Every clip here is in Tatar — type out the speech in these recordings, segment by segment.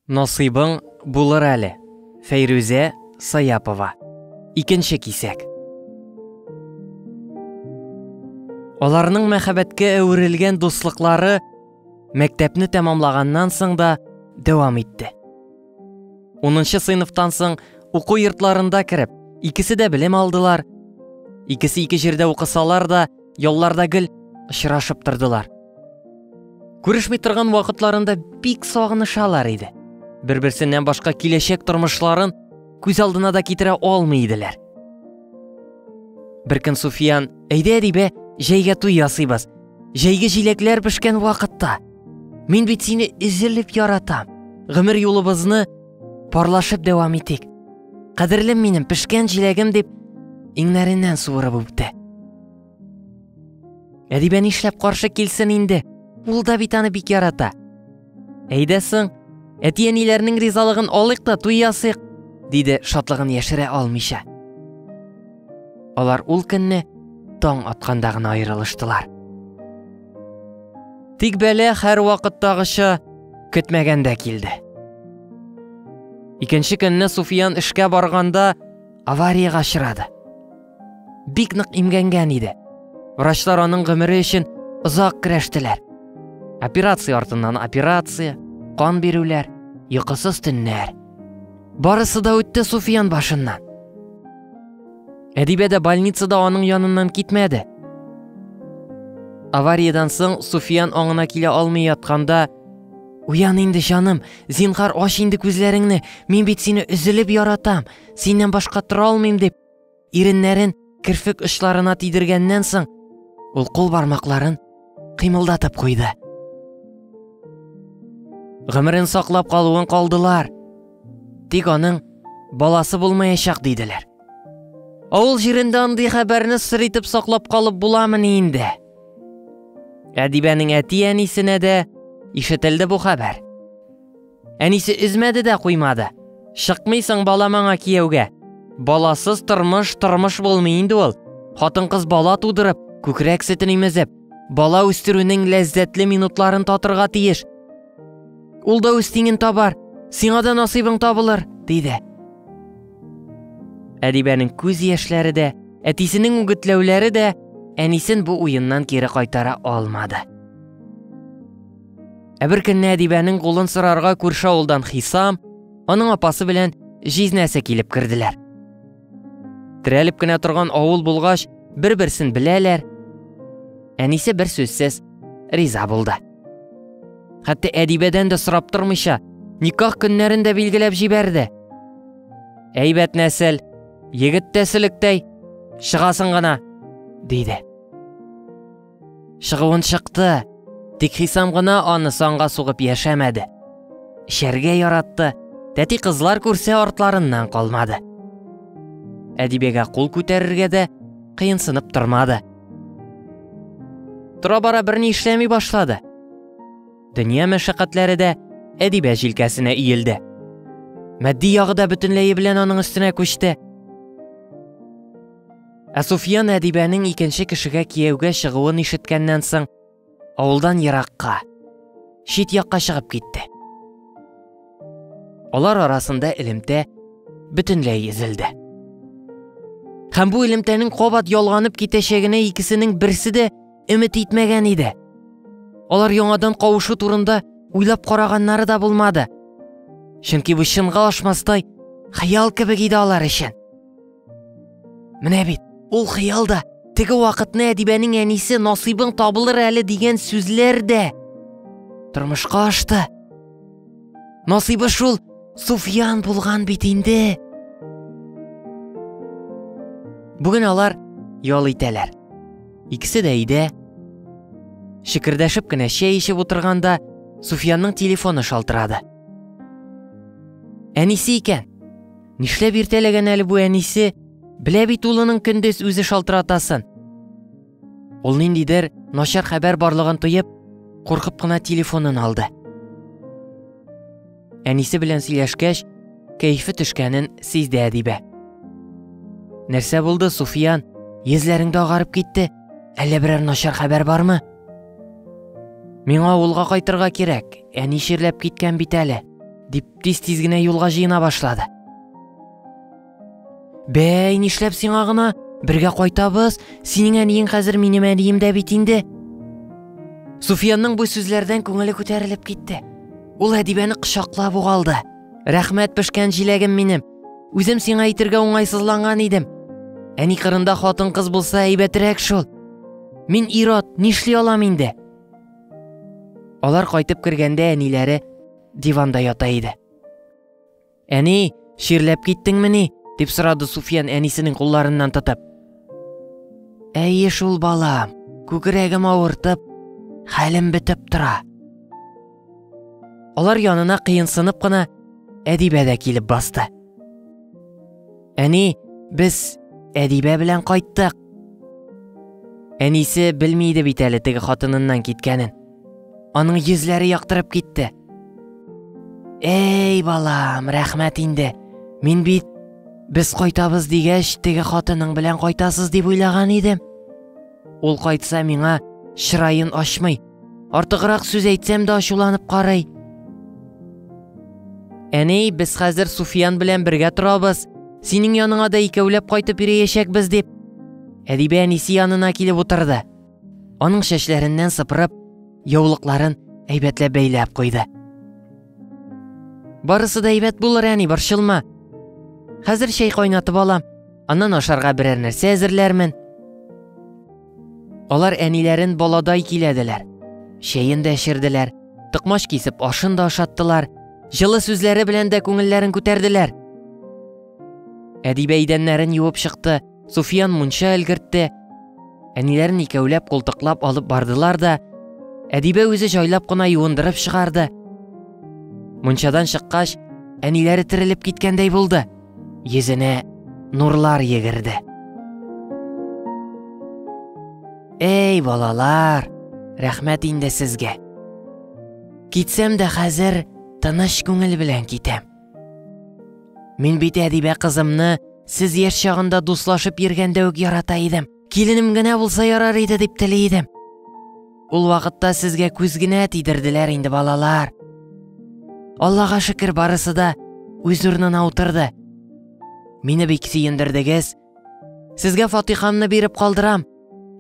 Насыйбың булыр әле. Фәйрүзә Саяпова. Икенче кисәк. Аларның мәхәббәткә әверелгән дуслыклары мәктәпне тәмамлаганнан соң да дәвам итте. 10 сыйныфтан соң уку йортларында кереп, икесе дә белем алдылар. Икесе ике җирдә укысалар да, Ялларда гел очрашып тордылар. Күрешми торган вакытларында бик сагынышалар иде. Бер-берсеннән башка киләчәк тормышларын күз алдына да китерә алмый иделәр. Бер көн Суфиян, әйдә, әдибә, җәйгә туй ясыйбыз. Җәйге җиләкләр пешкән вакытта. Мин бит сине эзелеп яратам. Гомер юлыбызны Парлашып дәвам итик. Кадерлем минем, пешкән җиләгем дип, иңнәреннән суырып үпте. Әдибә нишләп каршы килсен инде? Ул да бит аны бик ярата. Әйдә соң, әти-әниләрнең ризалыгын алыйк та туй ясыйк, диде шатлыгын яшерә алмыйча. Алар ул көнне таң атканда гына аерылыштылар. Тик бәлә һәрвакыттагыча көтмәгәндә килде. Икенче көнне Суфиян эшкә барганда авариягә очрады. Бик нык имгәнгән иде. Врачлар аның гомере өчен озак көрәштеләр. Операция артыннан операция, кан бирүләр, йокысыз төннәр. Барысы да үтте Суфиян башыннан. Әдибә дә больницада аның яныннан китмәде. Авариядән соң Суфиян аңына килә алмый ятканда, Уян инде, җаным, зинхар ач инде күзләреңне, мин бит сине өзелеп яратам, синнән башка тора алмыйм дип, иреннәрен керфек очларына тидергәннән соң, ул кул бармакларын кыймылдатып куйды. Гомерен саклап калуын калдылар. Тик аның баласы булмаячак диделәр. Авыл җирендә андый хәбәрне сыр итеп саклап калып буламыни инде? Әдибәнең әти-әнисенә дә ишетелде бу хәбәр. Әнисе өзмәде дә куймады. Чыкмыйсың бала маңа кияүгә. Баласыз тормыш тормыш булмый инде ул. Хатын-кыз бала тудырып, күкрәк сөтен имезеп, бала үстерүнең ләззәтле минутларын татырга тиеш. Ул да үз тиңен табар, сиңа да насыйбың табылыр, диде. Әдибәнең күз яшьләре дә, әтисенең үгетләүләре дә әнисен бу уеннан кире кайтара алмады. Ә бер көнне Әдибәнең кулын сорарга күрше авылдан Хисам, аның апасы белән җизнәсе килеп керделәр. Терәлеп кенә торган авыл булгач, бер-берсен беләләр. Әнисе бер сүзсез риза булды. Хәтта Әдибәдән дә сорап тормыйча, никах көннәрен дә билгеләп җибәрде. Әйбәт нәсел, егет тәселектәй, чыгасын гына, диде. Чыгуын чыкты. Тик Хисам гына аны санга сугып яшәмәде. Эчәргә яратты. Тәти кызлар күрсә артларыннан калмады. Әдибегә кул күтәрергә дә кыенсынып тормады. Тора-бара берни эшләми башлады. Дөнья мәшәкатьләре дә Әдибә җилкәсенә иелде. Мәдди ягы да бөтенләе белән аның өстенә күчте. Ә Суфиян Әдибәнең икенче кешегә кияүгә чыгуын ишеткәннән соң, авылдан еракка, чит якка чыгып китте. Алар арасында элемтә бөтенләй изелде. Һәм бу элемтәнең кабат ялганып китәчәгенә икесенең берсе дә өмет итмәгән иде. Алар яңадан кавышу турында уйлап караганнары да булмады. Чөнки бу чынга ашмастай хыял кебек иде алар өчен. Менә бит, ул хыял да, теге вакытны әдибәнең әнисе насыйбың табылыр әле дигән сүзләр дә тормышка ашты. Насыйбы шул Суфиян булган бит инде. Бүген алар ял итәләр. Икесе дә өйдә. Шикердәшеп кенә чәй эчеп утырганда Суфиянның телефоны шалтырады. Әнисе икән. Нишләп иртәләгән әле бу әнисе? Белә бит улының көндез үзе шалтыратасын. Ул ниндидер начар хәбәр барлыгын тоеп, куркып кына телефонын алды. Әнисе белән сөйләшкәч, кәйфе төшкәнен сизде Әдибә. Нәрсә булды, Суфиян? Йөзләреңдә агарып китте. Әллә берәр начар хәбәр бармы? Миңа авылга кайтырга кирәк, әни чирләп киткән бит әле. Тиз-тиз генә юлга җыена башлады. Бәй, нишләп сиңа гына? Бергә кайтабыз. Синең әниең хәзер минем әнием дә бит инде. Суфиянның бу сүзләрдән күңеле күтәрелеп китте. Ул Әдибәне кочаклап угалды. Рәхмәт пешкән җиләгем минем. Үзем сиңа әйтергә уңайсызланган идем. Әни кырында хатын-кыз булса әйбәтерәк шул. Мин ират, нишли алам инде? Алар кайтып кергәндә әниләре диванда ята иде. Әни, ширләп киттеңме ни? дип сорады Суфиян әнисенең кулларыннан тотып. Әйе шул балам, күкрәгем авыртып, хәлем бетеп тора. Алар янына кыенсынып кына Әдибә дә килеп басты. Әни, без Әдибә белән кайттык. Әнисе белми иде бит әле теге хатыныннан киткәнен. Аның йөзләре яктырып китте. Эй, балам, рәхмәт инде. Мин бит без кайтабыз дигәч, теге хатының белән кайтасыз дип уйлаган идем. Ул кайтса миңа чырайын ачмый. Артыграк сүз әйтсәм дә ачуланып карый. Әни, без хәзер Суфиян белән бергә торабыз. Синең яныңа да икәүләп кайтып йөриячәкбез дип. Әдибә әнисе янына килеп утырды. Аның чәчләреннән сыпырып, яулыкларын әйбәтләп бәйләп куйды. Барысы да әйбәт булыр, әни, борчылма. Хәзер чәй кайнатып алам, аннан ашарга берәр нәрсә әзерләрмен. Алар әниләрен баладай киләделәр. Чәен дә эчерделәр, токмач кисеп ашын да ашаттылар, җылы сүзләре белән дә күңелләрен күтәрделәр. Әдибә идәннәрен юып чыкты, Суфиян мунча өлгертте. Әниләрен икәүләп култыклап алып бардылар да, Әдибә үзе җайлап кына юындырып чыгарды. Мунчадан чыккач, әниләре терелеп киткәндәй булды. Йөзенә нурлар йөгерде. Эй, балалар, рәхмәт инде сезгә. Китсәм дә хәзер тыныч күңел белән китәм. Мин бит Әдибә кызымны сез яшь чагында дуслашып йөргәндә үк ярата идем. Киленем генә булса ярар иде дип тели идем. Ул вакытта сезгә күз генә тидерделәр инде балалар. Аллага шөкер барысы да үз урынына утырды. Мине бик сөендердегез, Сезгә фатихамны биреп калдырам.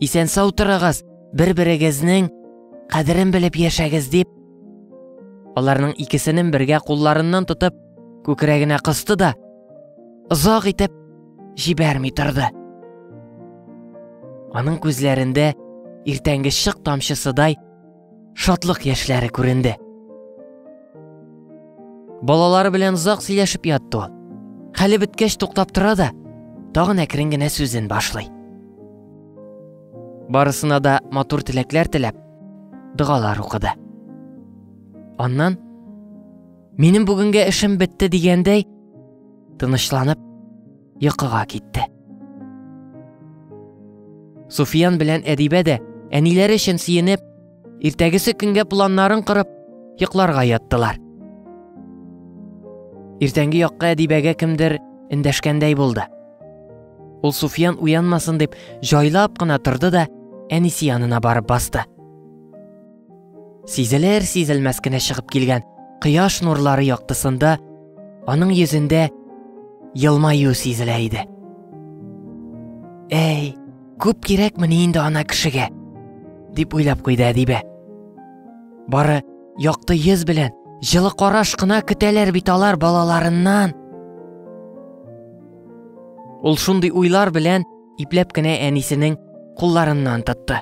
Исән сау торыгыз, бер-берегезнең кадерен белеп яшәгез дип. Аларның икесенең бергә кулларыннан тотып, күкрәгенә кысты да, озак итеп җибәрми торды. Аның күзләрендә иртәнге шык тамчысыдай шатлык яшьләре күренде. Балалары белән озак сөйләшеп ятты ул. Хәле беткәч туктап тора да, тагын әкрен генә сүзен башлый. Барысына да матур теләкләр теләп, дәгалар укыды. Аннан Минем бүгенгә эшем бетте дигәндәй, тынычланып йокыга китте. Суфиян белән Әдибә дә әниләре өчен сөенеп, иртәгесе көнгә планнарын корып, йокларга яттылар. Иртәнге якка Әдибәгә кемдер эндәшкәндәй булды. Ул Суфиян уянмасын дип, җайлап кына торды да әнисе янына барып басты. Сизелер сизелмәс кенә чыгып килгән кояш нурлары яктысында аның йөзендә елмаю сизелә иде. Әй, күп кирәкмени инде ана кешегә, дип уйлап куйды Әдибә. Бары якты йөз белән җылы караш кына көтәләр бит алар балаларыннан. Ул шундый уйлар белән ипләп кенә әнисенең кулларыннан тотты.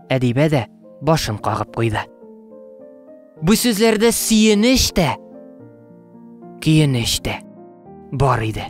Әдибә дә башын кагып куйды. Бу сүзләрдә сөенеч тә, көенеч тә бар иде.